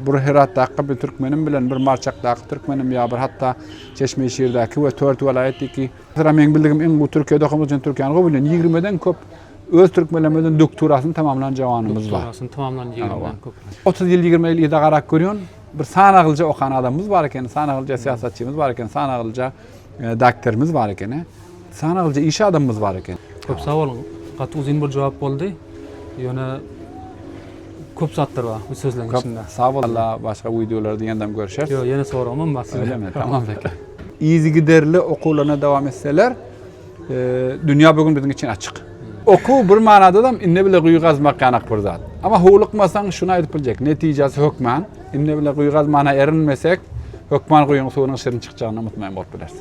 Bir Heratdaky bir türkmenim bilen bir Marçakdaky türkmenim ýa bir hatda Çeşmeşirdäki we Tört welaýat diýki. Mesela meň bildigim iň gowy Türkiýede okamak üçin Türkiýäni gowy bilýän ýigrimeden köp öz türkmenlerimizden doktorasyny tamamlan jawanymyz bar. Doktorasyny tamamlan ýigrimeden köp. Otuz ýyl ýigrimi ýyl yza garap görýän bir sanaglyja okan adamymyz bar ekeni, sanaglyja syýasatçymyz bar ekeni, sanaglyja Ee, dakterimiz bar ekeni. Sana gylyja iş adamymyz bar eken. Köp sag bol. Gaty uzyn bir jogap boldy. Ýöne köp zatlar bar bu sözleriň içinde. Sag bol. Alla başga wideolarda ýandam görüşeris. Ýok, ýene soragym bar size. Öylemi? Tamam beke. Yzygiderli okuwlaryna dowam etseler. Dünýä bu gün biziň üçin açyk. Okuw bir manadadam indi bile guýy gazmak ýanak bir zat. Emma howlukmasaň şuny aýdyp biljek, netijesi hökman, indi bile guýy gazmana erinmesek, hökman guýyň suwunyň şirin çykjagyna mutmaýn bolup bileris.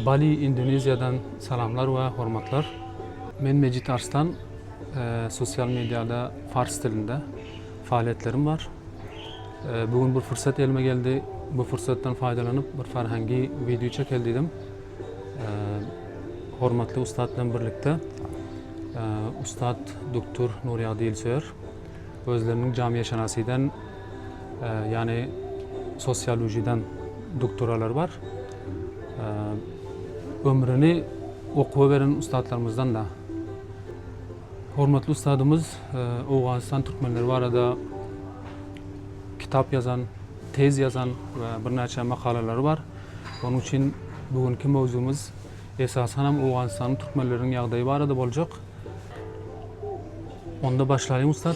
Bali Indoneziýadan salamlar we hormatlar. Men Mejit Arslan, sosial mediada fars dilinde faaliýetlerim bar. Bu gün bir fursat elime geldi, bu fursatdan faýdalanyp bir farhangi wideo çekeli diýdim. Hormatly ussat bilen birlikde ussat Duktur Nurýagdy Ýylsöýer özleriniň jamiýeşenasiden Ýany sosiolojiden duktoralar bar. Ömrüni okuwa beren ussatlarymyzdan da. Hormatly ussadymyz Owganystan türkmenleri barada kitap ýazan, tez ýazan we birnäçe makalalary bar. Onuň üçin bu günki mowzugymyz esasanam Owganystanyň türkmenleriniň ýagdaýy barada boljak. Onda başlaýyň ussat.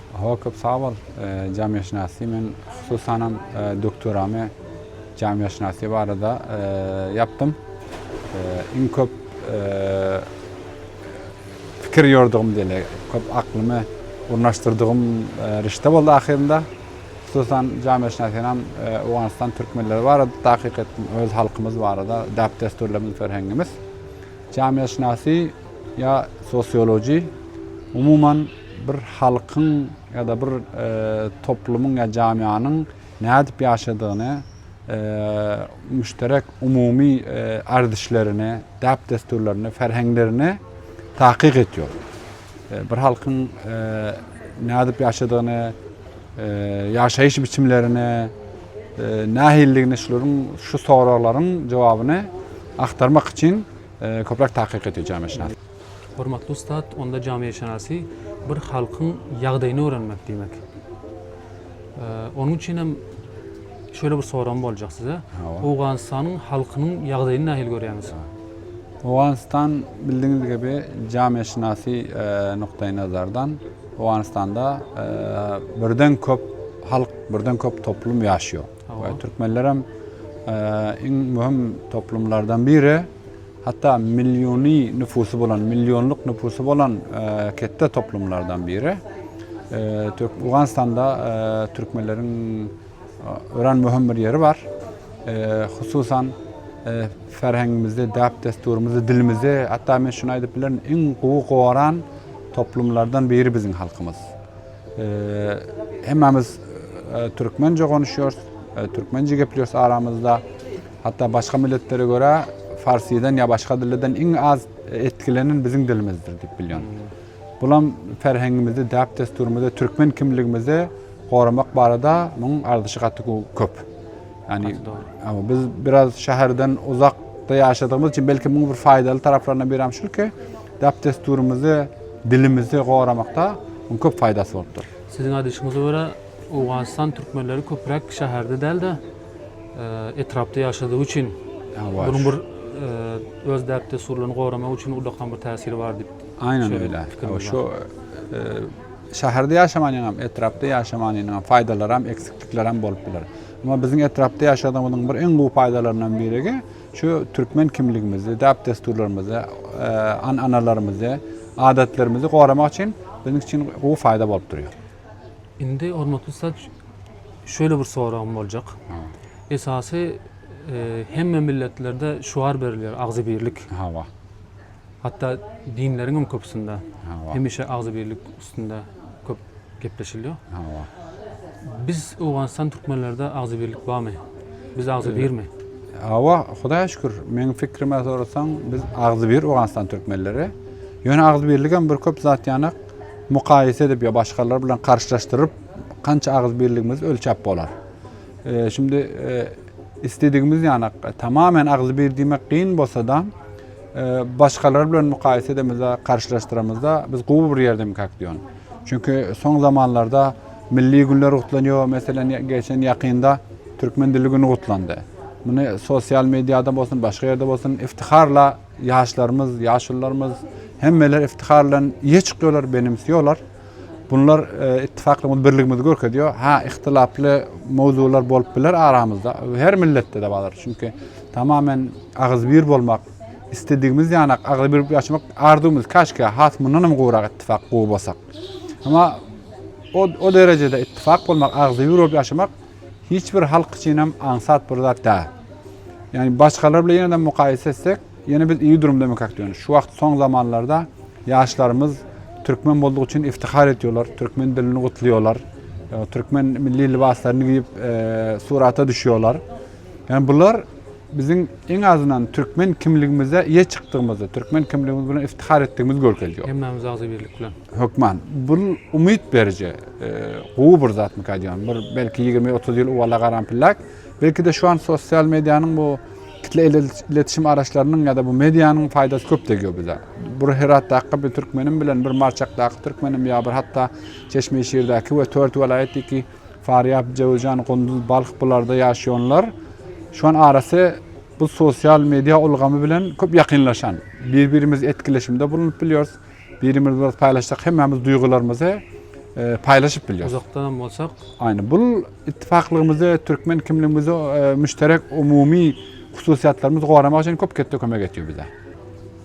Hawa köp sag bol jamiýetşynasy men hususanam doktoramy jamiýetşynasy barada ýapdym iň köp pikir ýordugym diýeli köp aklymy urnaşdyrdygym rişde boldy ahyrynda hususan jamiýetşynasynam owganystan türkmenleri barada takyk etdim öz halkymyz barada däp dessurlarymyz ferhengimiz jamiýetşynasy ýa sosiology umuman Bir halkyň ýa-da bir toplumyň ýa jamianyň nädip ýaşadygyny, müşterek umumy erdişlerini, däp-dessurlaryny, ferheňlerini takyk etýär. Bir halkyň nädip ýaşadygyny, ýaşaýyş biçimlerini, nähilidigini şularyň, şu soraglaryň jogabyny agtarmak üçin köpräk takyk etýär jamiýetşynas. Hormatly ussat, onda jamiýetşynasy bir halkyň ýagdaýyny öwrenmek diýmek. Onuň üçin hem şöyle bir soragym boljak size. Owganystanyň halkynyň ýagdaýyny nähili görýäňiz? Owganystan bildigiňiz gibi jamiýetşynasy e, nukdaý nazardan Owganystanda e, birden köp halk, birden köp toplum ýaşýar. Hawa. Türkmenlerem iň möhüm toplumlardan biri. Hatda milliony nüfusy bolan, millionlyk nüfusy bolan ketde toplumlardan biri. Owganystanda türkmenleriň örän möhüm bir ýeri bar. Hususan ferhengimizde, däp-dessurymyzda, dilimizde, hatda men şuny aýdyp bilerin, iň gowy goran toplumlardan biri biziň halkymyz. Hemmämiz türkmence gonuşýarys, türkmence gepleýäris aramyzda. Hatda başga milletlere görä farsydan ýa başga dilden iň az etkilenen biziň dilimizdir diýip bilýän. Bulam ferhengimizi, däp-dessurymyzy, türkmen kimligimizi goramak barada muň arzyşy gaty köp. Ýani biz biraz şäherden uzak ýaşadygymyz üçin belki muň bir faýdaly taraplaryna biri hem şulki, Däp-dessurymyzy, dilimizi goramakda muň köp faýdasy bolupdyr. Siziň aýdyşyňyza görä, owganystan türkmenleri köpräk şäherde däl-de, etrapda ýaşadygy üçin, munuň bir öz däp-dessurlaryny goramagy üçin ullakan bir täsiri bar diýip Aýnan öýle. Hawa şu şäherde ýaşamanyň hem, etrapda ýaşamanynyň hem faýdalary hem, eksiklikleri hem bolup biler. Emma biziň etrapda ýaşadygymyzyň bir iň gowy faýdalaryndan birigi, Şu türkmen kimligimizi, däp-dessurlarymyzy, an-analarymyzy, adatlarymyzy goramak üçin biziň üçin gowy faýda bolup durýar. Indi hormatly ussat şöyle bir soragym boljak. Esasy e, hemme milletlerde şuar berilýär, agzybirlik. Hawa. Hatda dinleriň hem köpüsinde hemişe agzybirlik üstünde köp gepleşilýär. Biz Owganystan türkmenlerde agzybirlik barmy? Biz agzybirmi? Hawa, Hudaýa şükür. Meň pikrime sorasaň, biz agzybir Owganystan türkmenleri. Ýöne agzybirlik hem bir köp zat ýanak mukaýese edip ýa başgalar bilen garşylaşdyryp, kança agzybirligimizi ölçäp bolar. E, şimdi e, istedigimiz ýanak tamamen agzybir diýmek kyn bolsa-da, Başgalar bilen mukaýese edemizde, garşylaşdyramyzda biz gowy bir ýerde mikak diýon. Çünki soň zamanlarda milli günler gutlanýar, meselem geçen ýakynda türkmen dili güni gutlandy. Muny sosial mediada bolsun, başga ýerde bolsun iftiharla ýaşlarymyz, ýaşulylarymyz hemmeler iftihar bilen ýe çykýarlar, benimsiýorlar. Bunlar ittifaklygymyzy, birligimizi görkezýär. Ha, ihtilaply mowzular bolup biler aramyzda. Her milletde-de bardyr. Çünki tamamen agyzybir bolmak, isledigimiz ýanak agyzybir bolup ýaşamak arzuwymyz. Käşgä has mundan hem gowrak ittifak gowy bolsak. Emma o, o derejede ittifak bolmak, agyzybir bolup ýaşamak hiç bir halk üçin hem aňsat bir zat däl. Ýani başgalar bilen ýene-de mukaýese etsek, Ýöne biz iyi durumda emekak diýýän. Şu wagt soň zamanlarda ýaşlarymyz türkmen boldugy üçin iftihar edýolar, türkmen dilini gutluýolar, türkmen milli libaslaryny giyip surata düşýolar. Yani bular biziň en azyndan türkmen kimligimize iýe çykdygymyzy, türkmen kimligimiz bilen iftihar etdigimizi görkezýär. Hemmämiz agzy birlik bilen. Hökman. Bu umyt beriji, gowy bir zatmyka diýýän. Bir belki ýigrimi, otuz ýyl owala garan pillak. Belki-de şu an sosial medianyň bu Kitleý iletişim araçlarynyň ýa-da bu medianyň paýdasy köp degýär bize. Bir Heratdaky bir türkmenim bilen bir Marçakdaky türkmenim ýa bir hatda Çeşmeşirdäki we Tört welaýatdyky Farýap, Jöwüzjan, Gunduz, Balh bularda ýaşaýanlar şuan arasy bu sosial media ulgamy bilen köp ýakynlaşan. Bir-birimiz etkileşimde bulunyp bilýäris. Birimiz biraz paýlaşsak hemmämiz duýgularymyzy paýlaşyp bilýär. Uzakdanam bolsak. Aýna bul ittifaklygymyzy, türkmen kimligimizi müşterek umumy hususyýetlerimizi goramak üçin köp ketde kömek etýär bize.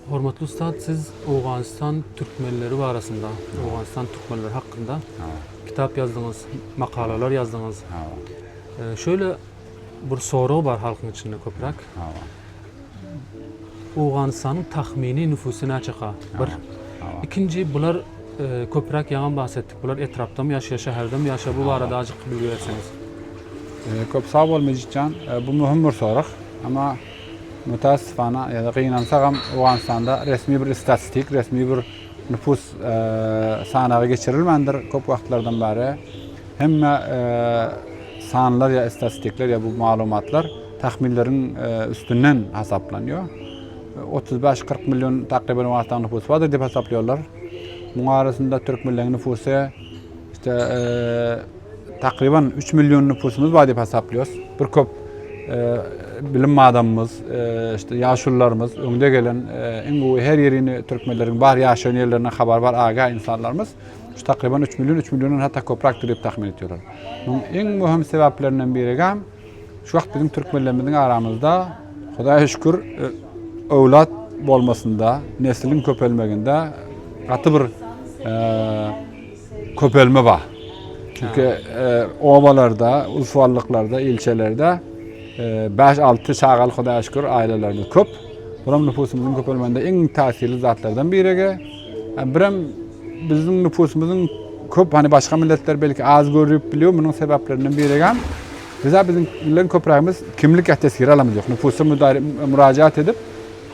Hormatly ustad, siz Owganystan türkmenleri barasynda, Owganystan türkmenleri hakynda kitap ýazdyňyz, makalalar ýazdyňyz. Şöyle Bir sorag bar halkyň içinde köpräk. Owganystanyň tahmini nüfusy näçeka? Bir. Ikinji bular köpräk ýaňam bahs etdik. Bular etrapdamy ýaşaýar, şäherdemi ýaşaýar? Bu barada ajyk bilgi berseňiz. Köp sag bol Mejitjan. Bu möhüm bir sorag. Emma mütässifana ýa-da gynansagam Owganystanda resmi bir istatistik, resmi bir nüfus sanagy geçirilmändir köp wagtlardan bäri. Hemme sanlar ýa statistikler ýa bu maglumatlar tahminleriň üstünden hasaplanýar. Otuz bäş, kyrk million takryban Owganystanyň nupusy bardyr diýip hasaplaýarlar. Muň arasynda türk milletiň nupusy işte takryban üç million nupusymyz bar diýip hasaplaýarys. Bir köp bilim adamymyz, işte ýaşulularymyz, öňde gelen iň gowy her ýerini türkmenleriň bar ýaşaýan ýerlerinden habar bar aga insanlarymyz. Şu takryban üç million, üç milliondan hatda köpräkdir diýip tahmin etýärler. Munuň iň möhüm sebäplerinden birigem şu wagt biziň türkmenlerimiziň aramyzda Hudaýa şükür e, öwlat bolmasynda, nesliň köpelmeginde gaty bir e, köpelme bar. Çünki e, obalarda, ulsuwallyklarda, ilçelerde 5-6 çagaly Hudaýa şükür ailelerimiz köp. Bu hem nüfusymyzyň köpelmeginde iň täsirli zatlardan birigi. Birem biziň nüpusymyzyň köp, hani başga milletler belki az görüp bilýär, munuň sebäplerinden birigem bize biziň bilen köprägimiz kimlik ýa tesgiri alamyz ýok. Nüpusa mürajaat edip,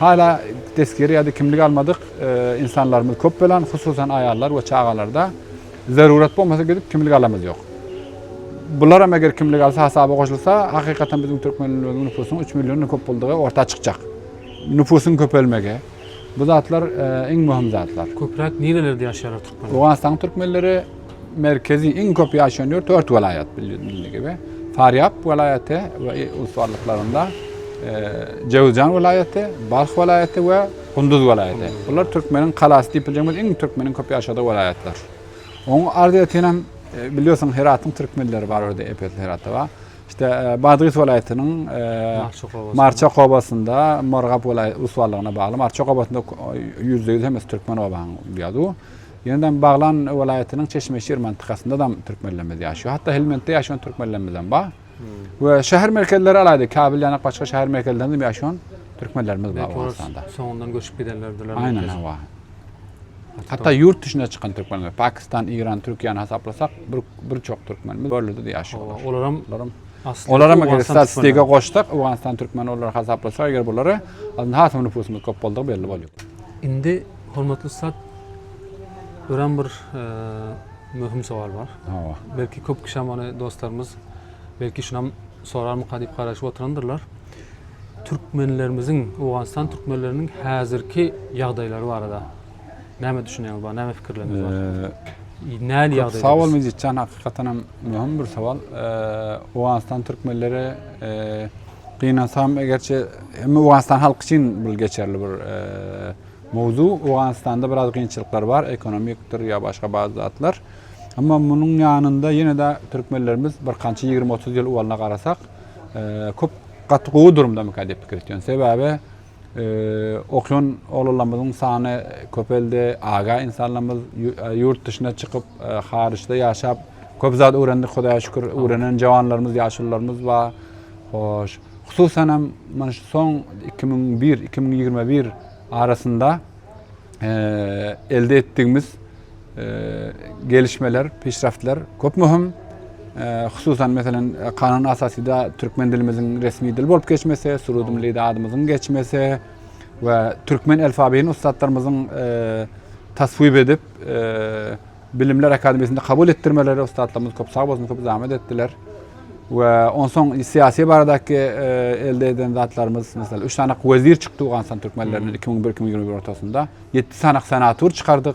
hala tesgiri ýa-da kimlik almadyk e, insanlarymyz köp bolan, hususan aýallar we çagalarda zarurat bolmasa gidip kimlik alamyz ýok. Bular hem eger kimlik alsa hasaba goşulsa, hakykatan biziň türkmenlerimiziň nüpusynyň 3 million köp boldugy orta çykjak. Nüpusyň köpelmegi, Bu zatlar iň möhüm zatlar. Köpräk nirelerde ýaşaýarlar türkmenler? Owganystanyň türkmenleri merkezi iň köp ýaşaýan ýer dört welaýat bildiğiniz gibi. Farýap welaýaty we ussarlyklarynda Jöwüzjan welaýaty, Balh welaýaty we Gunduz welaýaty. Bular türkmeniň kalasy diýip biljegimiz iň türkmeniň köp ýaşadygy welaýatlar. Oň arzyýetinem bilýärsiň Heratyň türkmenleri bar ýerde epesli Heratda bar. İşte Badgis welaýatynyň Marçok obasynda Morgap welaýat uswallaryna bagly Marçok obasynda ýüzde ýüz hemmesi türkmen obaň diýýärdi. Ýöne Baglan welaýatynyň Çeşmeşir mantykasynda da türkmenlerimiz ýaşaýar. Hatda Helmentde ýaşaýan türkmenlerimiz hem bar. We şäher merkezleri alaýda Kabil ýanak başga şäher merkezlerinde hem ýaşaýan türkmenlerimiz bar Owganystanda. Soňundan göçüp gidenlerdiler. Aýnan hawa. Hatda ýurt duşuna çykan türkmenler, Pakistan, Iran, Türkiýäni hasaplasak, bir bir çok türkmen biz görlüde de ýaşaýarlar. Olar hem olar hem Olar hem eger statistika goşsak, Owganystan türkmeni olar hasaplasak, eger bulara aslynda hasam nüfusumyz köp boldy belli bolýar. Indi hormatly sat örän bir e, möhüm sowal bar. Hawa. Belki köp kişi hem dostlarymyz belki şunam sorarmyka diýip garaşyp oturandyrlar. Türkmenlerimiziň, Owganystan türkmenleriniň häzirki ýagdaýlary barada näme düşünýäňiz bar, näme pikirleriňiz bar? Eee, Näl ýagdaýda? Köp sag bol Mejitjan, hakykatan hem möhüm bir sowal. Eee, Owganystan türkmenleri eee, gynansam, egerçe hem Owganystan halky üçin bir geçerli bir eee, mowzu. Owganystanda biraz kynçylyklar bar, ekonomikdir ýa başga bazı zatlar. Emma munuň ýanynda ýene-de türkmenlerimiz birkança ýigrimi-otuz ýyl owalyna garasak, köp gaty gowy durumdamyka diýip pikir etýän. Sebäbi okýan oglanlarymyzyň sany köpeldi, aga insanlarymyz ýurt dışyna çykyp, haryçda ýaşap, köp zat öwrendik Hudaýa şükür, öwrenen jawanlarymyz, ýaşulylarymyz bar. Hoş, hususan hem mana şu soň 2001-2021 arasynda elde etdigimiz Gelişmeler, pişraftlar köp möhüm. Hususan meselen Kanun Asasyda türkmen dilimiziň resmi dil bolup geçmesi, Surudym Lida adymyzyň geçmesi we türkmen alfabeýini ussatlarymyzyň taswip edip Bilimler Akademiýasynda kabul etdirmeleri ussatlarymyz köp sag bolsun köp zahmet etdiler. We onsoň syýasy baradaky elde eden zatlarymyz, meselen, 3 sany wezir çykdy Owganystan türkmenleriniň 2001-2021 ortasynda. 7 sany senator çykardyk.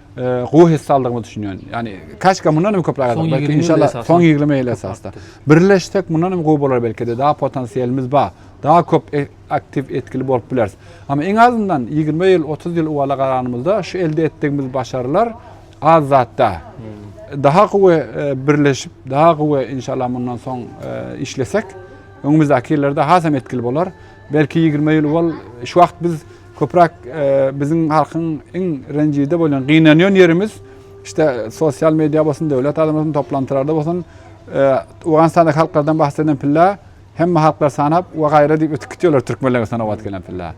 gowy hisse aldygyma düşünýän. Ýani kaşka mundan hem köpräk alsak, belki inşallah soň 20 ýyl esasda. Birleşsek mundan hem gowy bolar belkide daha potensiýelimiz bar. Daha köp aktiw etgili bolup bileris. Ama iň azyndan 20 ýyl 30 ýyl uwala garanymyzda şu elde etdigimiz başarylar az zat da. Daha gowy birleşip daha gowy inşallah mundan soň işlesek öňümizdaki ýyllarda hasam etgili bolar. Belki ýigrimi ýyl ol şu wagt biz köpräk biziň halkyň iň renjide bolýan gynanýan ýerimiz işte sosial media bolsun döwlet adamlaryň toplantylarda bolsun Owganystandaky halklardan bahs eden pilla hemme halklar sanap we gaýra diýip ötüp gitýärler türkmenler sanabat gelen pilla.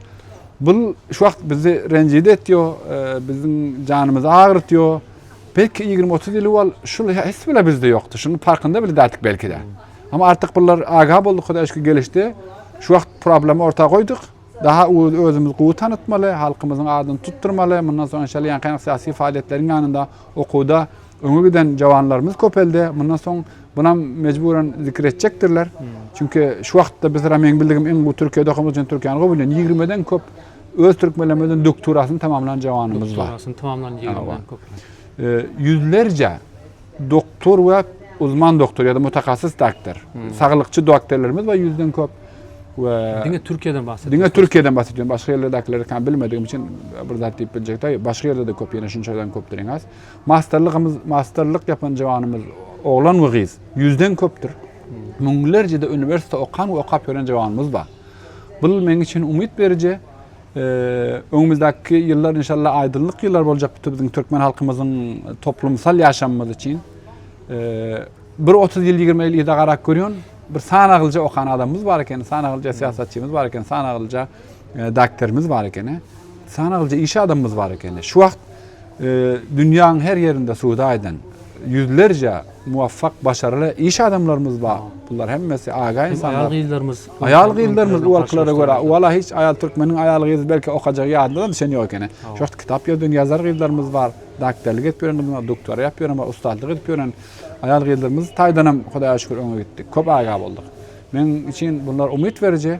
Bu şu wagt bizi renjide etýär, biziň janymyzy agyrtýar. Belki ýigrimi otuz ýyl owal şul his bile bizde ýokdy. Şunuň parkynda bile däldik belki-de. Ama artyk bular aga bolduk hudaý şükür gelişdi. Şu wagt problemi orta goýduk. Daha öz özümizi gowy tanytmaly, halkymyzyň adyny tutdurmaly. Mundan soň inşallah ýankaýan syýasy faaliýetleriň ýanynda okuwda öňe giden jawanlarymyz köpeldi. Mundan soň bunam mejburan zikir etjekdirler. Çünki şu wagtda biz meň bildigim iň gowy Türkiýede okamyz üçin Türkiýäni gowy bilýän. Ýigrimeden köp öz türkmenlerimizden doktorasyny tamamlan jawanymyz bar. Doktorasyny tamamlan ýigrimeden köp. Ýüzlerçe Doktor we uzman doktor ýa-da mutakassys doktor, saglykçy doktorlarymyz bar ýüzden köp. We diňe Türkiýeden bahs Diňe Türkiýeden bahs edýän, başga ýerlerdekileri kan bilmedigim üçin bir zat diýip biljek däl. Başga ýerde-de köp, ýene şunçadan köpdir iň az. Masterlygymyz, masterlyk ýapan jawanymyz, oglan we gyz ýüzden köpdür. Müňlerçede uniwersitete okan we okap ýören jawanymyz bar. Bu meň üçin umyt beriji. Öňümizdäki ýyllar inşallah aýdyňlyk ýyllar boljak bu biziň türkmen halkymyzyň toplumsal ýaşamymyz üçin. Bir 30 ýyl, 20 ýyl yza garap görýän bir sanagylyja okan adamymyz bar eken, sanagylyja syýasatçymyz bar eken, sanagylyja e, doktorymyz bar eken, sanagylyja iş adamymyz bar eken. Şu wagt Dünýäň her ýerinde söwda eden ýüzlerçe muwafak, başarly iş adamlarymyz bar. Bular hemmesi aga ynsanlar. Aýal-gyzlarymyz. Aýal-gyzlarymyz uwalkylary görä, uwala hiç aýal türkmeniň aýal-gyzy belki okajagy ýadynda-da düşen ýok ekeni. Şu wagt kitap ýazdyrýan ýazar gyzlarymyz bar. Dakterlik edip ýören gyzymyz bar, duktora ýap ýören bar, ustazlyk edip ýören aýal-gyzlarymyz taýdanam Hudaýa şükür öňe gitdik. Köp aga bolduk. Meň üçin bular umyt beriji.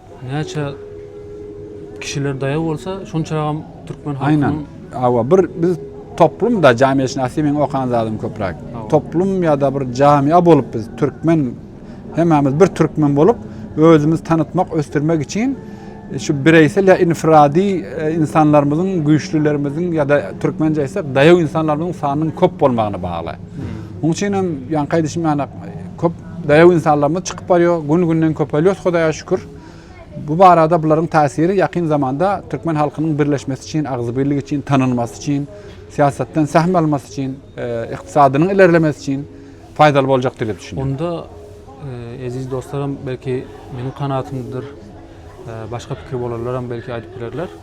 Näçe kişiler daýaw bolsa, şonçagam türkmen halkynyň Aýnan. Hawa, bir biz toplum-da, jamiýetşinasy meň okan zadym köpräk. Toplum ýa-da bir jamiýa bolup biz türkmen, hemmämiz bir türkmen bolup, özümizi tanytmak, ösdürmek üçin şu bireýsel ýa infirady insanlarymyzyň, güýçlülerimiziň ýa-da türkmençe aýtsak, daýaw insanlarymyzyň sanynyň köp bolmagyna bagly. Munuň üçin hem ýaňky aýdyşym ýaly, köp Daýaw ynsanlarymyz çykyp barýar, gün-günden köpelýäs Hudaýa şükür. Bu barada bularyň täsiri ýakyn zamanda türkmen halkynyň birleşmesi üçin, agzybirligi üçin, tanalmasy üçin, syýasatdan sähm almasy üçin, ykdysadynyň ilerlemesi üçin paýdaly boljakdyr diýip düşünýän. Onda eziz dostlaram belki meniň kanagatymdyr, başga pikir bolanlaram belki aýdyp bilerler.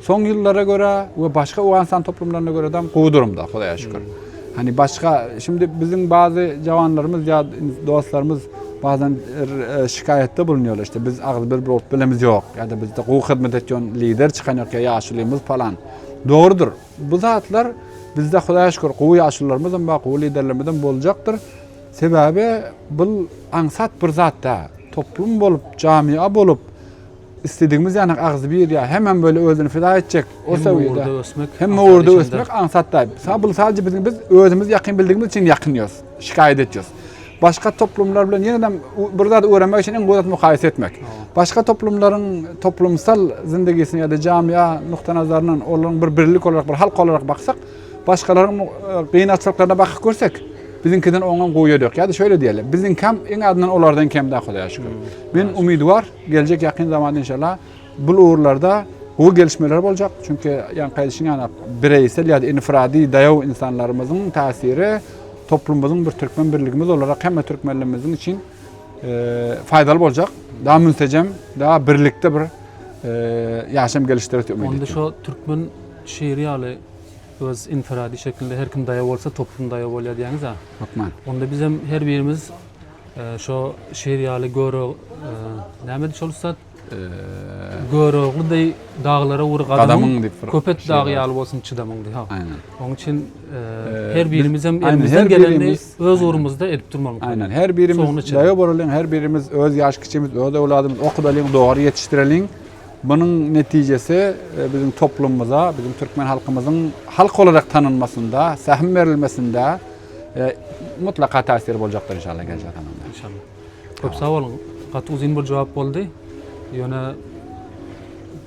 Soňky ýyllara görä we başga Owganystan toplumlaryna görä-dam gowy durumda, Hudaýa şükür. Hani başga, şindi biziň bazy jawanlarymyz ýa dostlarymyz bazan şikaýatda bulunýarlar, işte biz agyz bir bolup bilemiz ýok, ýa-da bizde gowy hyzmat etýän lider çykan ýok, ýa ýaşulymyz palan. Dogrudyr. Bu zatlar bizde Hudaýa şükür gowy ýaşullarymyzam bar, gowy liderlerimizem boljakdyr. Sebäbi bul aňsat bir zat däl. Toplum bolup, jamyýa bolup, Isledigimiz ýanak agzybir ýa hemem böyle özüni fida etjek. O sewýede. Hemme ösmek. Hemme ugurda ösmek aňsat daýyp. Sa bul sadece biziň biz özümiz ýakyn bildigimiz üçin ýakynýos. Şikaýat etýos. Başga toplumlar bilen ýenem bir zat öwrenmek üçin iň gowy zat mukaýese etmek. Başga toplumlaryň toplumsal zindigisini ýa-da jamia nukda nazaryndan olaryň bir birlik olarak bir halk olarak baksak, başgalaryň gynatlyklaryna bakyp görsek, biziňkiden oňam gowy ýeri ýok. Ýa-da şöyle diýeli, biziňkam iň azyndan olardan kem da Hudaýa şükür. Men umidwar. Geljek ýakyn zamanda inşallah bul ugurlarda gowy gelişmeler boljak. Çünki ýaňky aýdyşym ýaly bireýsel ýa-da infirady daýaw insanlarymyzyň täsiri toplumymyzyň bir türkmen birligimiz olarak hemme türkmenlerimiziň üçin faýdaly boljak. Daha münsejem, daha birlikde bir ýaşam gelişdirer diýip ümit edýän. Onda türkmen şiiri ýaly öz infirady şeklinde her kim daýaw bolsa toplum daýaw bolýar diýýäňiz-a. Hökman. Onda biz hem her birimiz Şo şir ýaly göro nämedi şol ussat? Görogly deý daglara ur gadamyň, Köpet dagy ýaly bolsun çydamyň diýip. Hak. Aýnan. Oň üçin her birimiz hem elimizden geleni öz urumyzda edip durmalyň. Aýnan. Her birimiz daýa bolalyň, her birimiz öz ýaş kiçimiz, öz öwladymyz okudalyň, dogry ýetişdireliň. Munuň netijesi biziň toplumymyza, biziň türkmen halkymyzyň halk olarak tanalmasynda, sähim berilmesinde, e, mutlaka täsiri boljakdyr inşallah geljek zamanda. İnşallah. Köp sag boluň. Gaty uzyn bir jogap boldy. Ýöne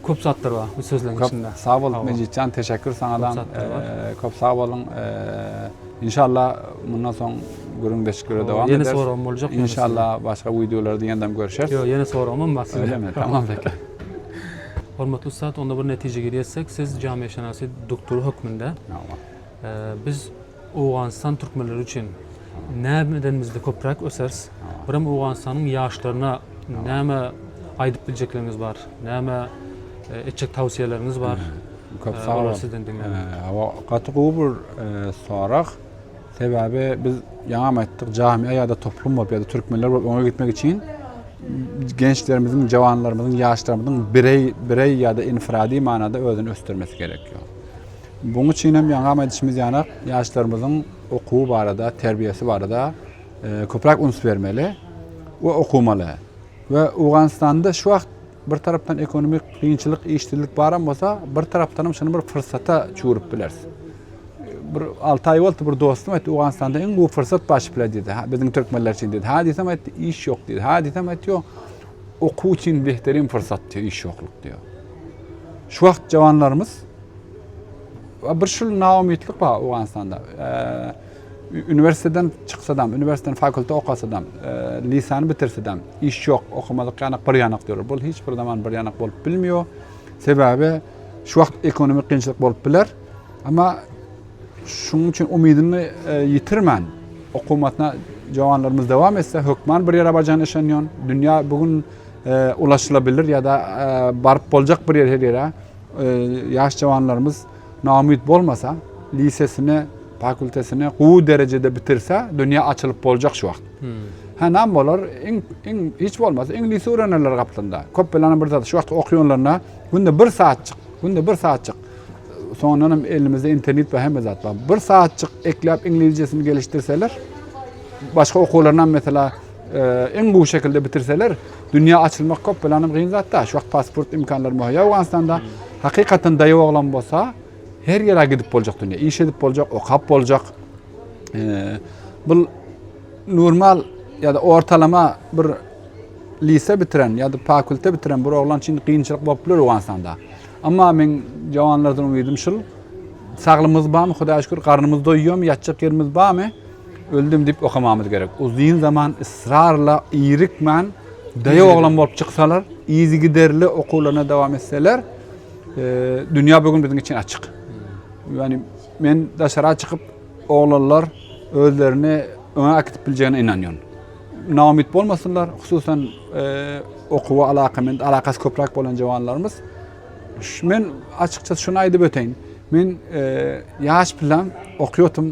köp zatlar bar bu sözleriň içinde. Sag bol Mejitjan, teşekkür sana da. Köp sag bolun. İnşallah bundan soň gürün deşikleri devam eder. Yeni sorum olacak. İnşallah başka videolarda yeniden görüşürüz. Yok yeni sorum ama size. Öyle mi? Tamam peki. Hormatly ustad, onda bir netijä ýetsek, siz jamiýeşenasy doktory hökmünde. Tamam. Biz Owganystan türkmenleri üçin näme edenimizde köpräk öseris? Birem Owganystanyň ýaşlaryna näme aýdyp biljekleriniz bar? Näme etjek tawsiýeleriňiz bar? Köp sag boluň. Olary sizden diňleýin. Gaty gowy bir sorag. Sebäbi biz ýaňam aýtdyk, jamiýa ýa-da toplum bolup ýa-da türkmenler bolup öňe gitmek üçin gençlerimiziň, jawanlarymyzyň, ýaşlarymyzyň bireý, bireý ýa-da infirady manada özüni ösdürmesi gerek. Bunuň üçin hem ýaňam aýdyşymyz ýanak, ýaşlarymyzyň okuwy barada, terbiýesi barada köpräk üns bermeli we okumaly. We Owganystanda şu wagt bir tarapdan ekonomik kynçylyk, işsizlik baram bolsa, bir tarapdan hem şuny bir pursata çüwürip bileris. Bir alty aý boldy, bir dostum aýtdy, Owganystanda iň gowy pursat baş bile diýdi, biziň türkmenler üçin diýdi. Hä diýsem aýtdy, iş ýok diýdi. Hä diýsem aýtdy, ýok. Okuw üçin behterem pursat diýdi, iş ýoklyk diýdi. Şu wagt jawanlarymyz Bir şul naumytlyk bar Owganystanda. Uniwersitetden çyksadam, uniwersitetden fakultet okasadam, lisany bitirsedem, iş ýok, okamadyk ýanak bir ýanak diýerler. Bu hiç bir zaman bir ýanak bolup bilmiyor. Sebäbi şu wagt ekonomik kynçylyk bolup biler. Ama şunuň üçin umydyny ýitirmän, okumatyna jawanlarymyz dowam etse, hökman bir ýere barjagyna işenýän. Dünýä bu gün ulaşylabilir ýa-da baryp boljak bir ýer her ýere. Ýaş jawanlarymyz naumyt bolmasa, lisesini, fakultetini gowy derejede bitirse, dünýä açylyp boljak şu wagt. Hä, näme bolar? Iň, iň hiç bolmasa iňlisi öwrenerler gaplanda. Köp belana bir zat. Şu wagt okuýanlaryna günde bir saatjyk, günde bir saatjyk. Soňundan hem elimizde internet we hemme zat bar. Bir saatjyk ekläp iňlizjesini gelişdirseler, başga okuwlaryna mesela Iň gowy şekilde bitirseler, dünýä açylmak köp bilenem gyn zat da. Şu wagt pasport imkanlary möhüm. Owganystanda hakykatdan daýaw oglan bolsa, her ýere gidip boljak dünýä. Iş edip boljak, okap boljak. Bu normal ya da ortalama bir lise bitiren ya da fakulte bitiren bir oglan için kynçylyk bolup biler Owganystanda. Amma men jawanlardan umytym şul. Saglymyz barmy? Hudaýa şükür, garnymyz doýýarmy? Ýatjak ýerimiz barmy? Öldüm diýip okamamyz gerek. Uzyn zaman ysrarla irikmän daýaw oglan bolup çyksalar, yzygiderli okuwlaryna dowam etseler, dünýä bu gün biziň üçin açyk. Ýagny men daşara çykyp oglanlar özlerini öňe äkitip biljegine ynanýan. Naumyt bolmasynlar, hususan okuwa alakamynd, alakasy köpräk bolan jawanlarymyz. Men açykçası şuny aýdyp öteýin. Men ýaş bilen okýatym.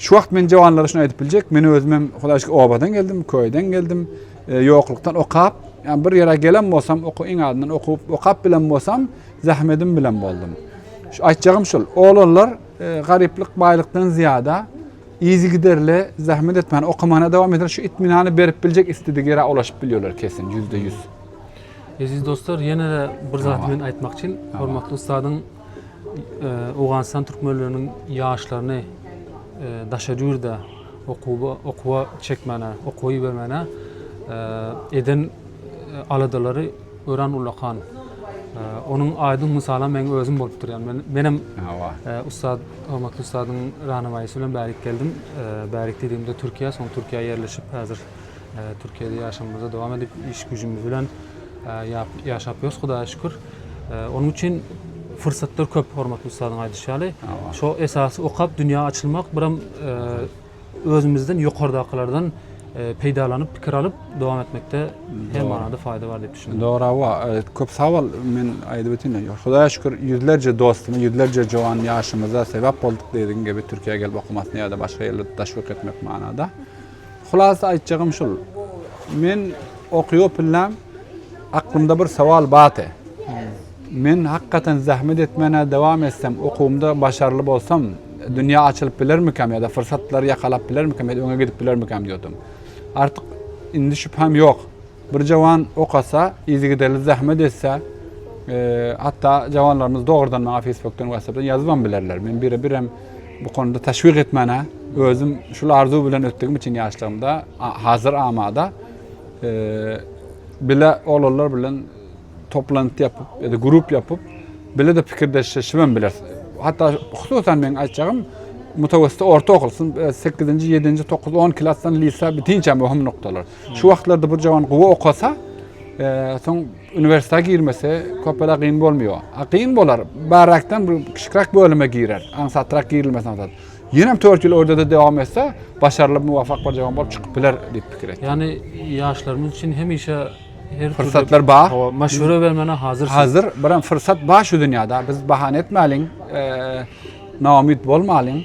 Şu wagt men jawanlara şuny aýdyp biljek, men özüm hem Hudaýa şükür obadan geldim, köýden geldim, e, ýoklukdan okap, ýa bir ýere gelen bolsam, oku iň azyndan okup, okap bilen bolsam, zähmedim bilen boldum. Şu aýtjagym şul, oglanlar e, garyplyk, baýlykdan zyýada izi giderli zähmet etmän okamana dowam eder, şu itminany berip biljek istedik ýere ulaşyp bilýärler kesin, ýüzde ýüz. Eziz dostlar, ýene-de bir zat men aýtmak üçin, hormatly ussadyň Owganystan türkmenleriniň ýaşlaryny daşary ýurda okuwa çekmäne, okuwa ibermäne eden aladalary örän ullakan. Onuň aýdyň mysalam meň özüm bolupdyr. Ýagny menem ussat, hormatly ussadyň rahnamayysy bilen bärik geldim. Bärik diýdigimde Türkiýä, soň Türkiýä ýerleşip häzir Türkiýede ýaşamyza dowam edip iş güjümiz bilen ýaşap ýörüs Hudaýa şükür. Onuň üçin fursatlar köp hormatly ustadyň aýdyşy ýaly. Şo esasy okap dünýä açylmak biram özümizden ýokardakylardan peýdalanyp pikir alyp dowam etmekde her manada faýda bar diýip düşünýän. Dogry hawa köp sag bol men aýdyp ötünde ýok. Hudaýa şükür ýüzlerje dostuma ýüzlerje jowan ýaşymyza sebäp bolduk diýdigiň gibi Türkiýä gelip okamasyny ýa-da başga ýerde daşwk etmek manada. Hulasa aýtjagym şul, men okýopyllem, aklymda bir sowal bate. Men hakykatan zähmet etmäne dowam etsem, okuwymda başarly bolsam, dünýä açylyp bilermikäm ýa-da fursatlary ýakalap bilermikäm ýa-da öňe gidip bilermikäm diýýodum. Artyk indi şübhäm ýok. Bir jawan ok atsa, yzygiderli zähmet etse, hatda jawanlarymyz dogrudan maňa Facebookdan, WhatsAppdan ýazybam bilerler. Men bire-birem bu konuda teşwik etmäne, özüm şul arzuw bilen ötdügim üçin ýaşlygymda, hazir amada bile oglanlar bilen toplantı yapıp ya da grup yapıp bile de pikirdeşleşibem biler. Hatta hususan men aýtjagym mutawassyt orta okul 8-nji, 7-nji, 9, 10 klasdan lisa bitinçe möhüm noktalar. Şu wagtlarda bir cavan gowy okasa, e, soň uniwersitete girmese köpele gyn bolmuyor. A gyn bolar. Barakdan bir kiçikrak bölüme girer. Aňsatrak girilmesi aňsat. Ýenem 4 ýyl orada da dowam etse, başarly muwafak bir cavan bolup çykyp biler diýip pikir etdim. Ýani ýaşlarymyz üçin hemişe her Fırsatlar bar. Hawa, maşwere bermäne hazyrsyň. Hazır, biram fırsat bar şu dünýäde. Biz bahana etmäliň, e, naumyt bolmalyň.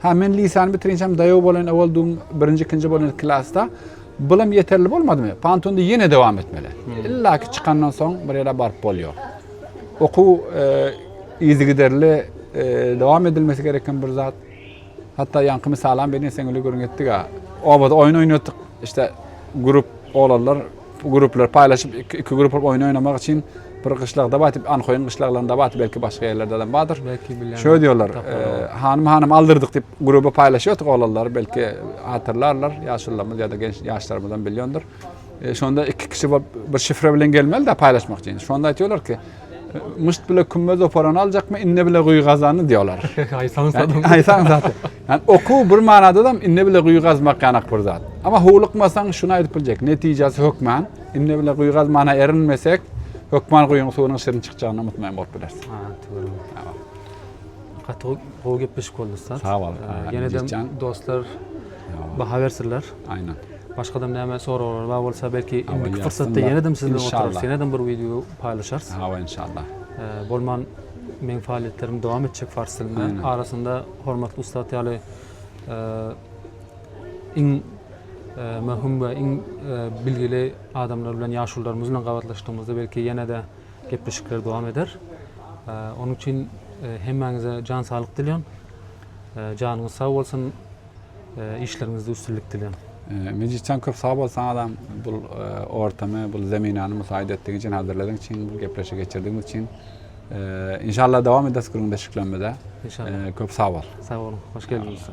Hä men lisany bitirinçem daýaw bolan owal dum birinji ikinji bolan klasda bulam ýeterli bolmadymy? Pantonda ýene dowam etmeli. Hmm. Illa ki çykandan soň bir ýere baryp bolýar. Okuw e, yzygiderli e, dowam edilmesi gereken bir zat. Hatda ýaňky misalam beni sen öli görün etdik ha. Obada oýun oýnadyk. İşte grup olanlar Gruplar paýlaşyp iki grup bolup oýun oýnamak üçin bir gyşlagda bar diýip anhoýyň gyşlaglarynda bar belki başga ýerlerde hem bardyr. Belki bilýän. Şöý diýýärler. Hanym hanym aldyrdyk diýip gruba paýlaşýardyk oglanlary belki hatyrlarlar ýaşulylarymyz ýa-da genç ýaşlarymyzam bilýändir. Şonda iki kişi bolup bir şifre bilen gelmelidä paýlaşmak üçin. Şonda aýtýarlar ki Müşt bile kümme zoparany aljakmy, inne bile guýy gazany diýýär olar. Aýsaň zat. Aýsaň zat. Yani okuw bir manada da inne bile guýy gazmak ýanak bir zat. Ama howlukmasaň şuny aýdyp biljek, netijesi hökman inne bile guýy gazmana erinmesek, hökman guýyň suwunyň şirin çykjagyna umutmaýan bolup bileris. Ha, dogry. Gaty gowy gepleşik boldy ussat. Sag bol. Ýene-de dostlar baha bersinler. Aýnan. Başga da näme soraglar bar bolsa belki indiki pursatda ýene-de siz bilen oturarys. Ýene-de bir wideo paýlaşarys. Hawa inşallah. Bolman meň faaliýetlerim dowam etjek fars dilinde. Arasynda hormatly ussat ýaly iň möhüm we iň bilgili adamlar bilen ýaşulularymyz bilen gabatlaşdygymyzda belki ýene-de gepleşikler dowam eder. Onuň üçin hemmäňize jan saglyk dilýän. Janyňyz sag bolsun. Işleriňizde üstünlik dileýän. Mejitjan köp sag bol saňa adam bu ortamy bu zeminany musaýyt etdigiň üçin hazırladyň üçin bu gepleşi geçirdigiň üçin inşallah dowam ederiz gürrüňdeşliklerimize köp sag bol. Sag boluň hoş geldiňiz.